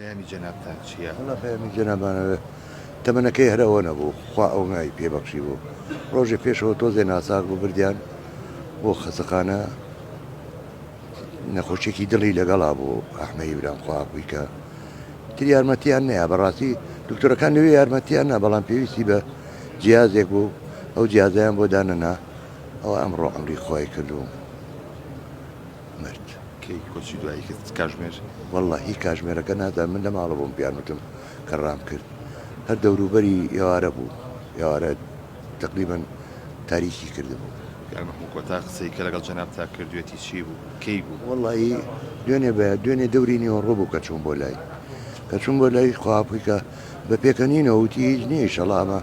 پەیامی جەنابتان چیە؟ وەڵا پەیامی جەنابانە تەمەنەکەی هەر ئەوە نەبوو خوا ئەونای پێ بەخشی بوو ڕۆژێ پێشەوە تۆزێ ناساغ بوو بردیان بۆ خەسەخانە نەخۆشیێکی دڵی لەگەڵا بوو ئەحمەی برام خواکوی کە تر یارمەتیان نەیە بەڕاستی دکتۆرەکان لەوێ یارمەتیان نا بەڵام پێویستی بە جیازێک بوو ئەو جیازیان بۆ دانەنا ئەو ئەمڕۆ ئەمری خۆی کردووە مرد. کەی کۆچی دوایی کرد کاژمێر؟ وەڵڵا هی کاژمێرەکە نازانم من لەماڵە بووم پێیان وتم کە ڕام کرد هەر دەوروبەری ئێوارە بوو ئێوارە تەقریبەن تاریکی کردبوو. کاک مەحموو کۆتا قسەی کە لەگەڵ جەنابتا کردوێتی چی بوو؟ کەی بوو؟ وەڵڵایی دوێنێ بە دوێنێ دەوری نیوەڕۆ بوو کە چووم بۆ لای کە چووم بۆ لای خواپیکە بە پێکەنینەوە وتی هیچ نییە ئیشەڵا ئەمە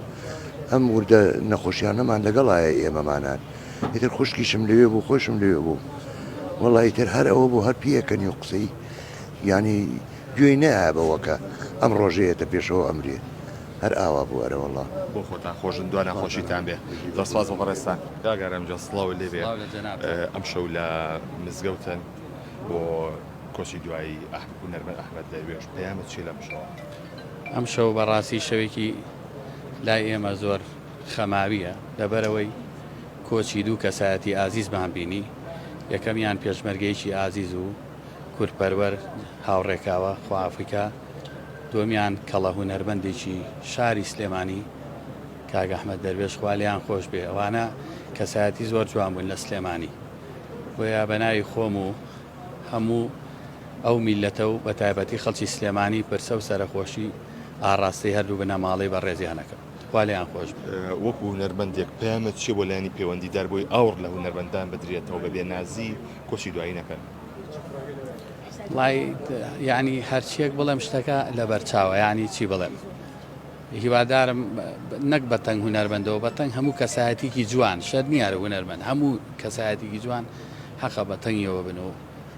ئەم وردە نەخۆشیانەمان لەگەڵایە ئێمەمانان ئیتر خوشکیشم لەوێ بوو خۆشم لەوێ بوو وەڵی ئیتر هەر ئەوە بوو هەر پیەکەنی و قسەی ینی گوێی نەیە بەوەکە ئەم ڕۆژەیەتە پێشەوە ئەمرێ هەر ئاوا بوو ئەرەوەڵا بۆ خۆتان خۆشن دو ناخۆشیتان بێ دەسپاس بە بەڕێستان کاگارم جا سڵاو لێ بێ ئەم شەو لە مزگەوتن بۆ کۆچی دوایی هونەرمەند ئەحمد دەروێش پەیامە چی لەم شەوە؟ ئەم شەو بەڕاستی شەوێکی لای ئێمە زۆر خەماوییە لەبەرئەوەی کۆچی دوو کەسایەتی ئازیزمان بینی، یەکەمیان پێشمەرگەیەکی ئازیز و کوردپەروەر هاوڕێ کاوە خوافیکا، دووەمیان کەڵە هونەرمەندێکی شاری سلێمانی کاک ئەحمەد دەروێش خوا لێیان خۆش بێ، ئەوانە کەسایەتی زۆر جوان بوون لە سلێمانی، بۆیە بەناوی خۆم و هەموو ئەو میللەتە و بەتایبەتی خەڵکی سلێمانی پرسە و سەرەخۆشی ئاڕاستەی هەردوو بنەماڵەی بەڕێزیان ئەکەم. تخوا لێیان خۆش بێت. وەکو هونەرمەندێک پەیامت چیە بۆ لایەنی پەیوەندیدار بۆی ئاوڕ لە هونەرمەندان بدرێتەوە بە بێ نازی کۆچی دوایی نەکەن؟ وەڵای یانی هەرچیەک بڵێم شتەکە لەبەر چاوە یانی چی بڵێم هیوادارم نەک بە تەنگ هونەرمەندەوە بە تەنگ هەموو کەسایەتیکی جوان شەر نیارە هونەرمەند هەموو کەسایەتیکی جوان حەقە بە تەنگیەوە بن و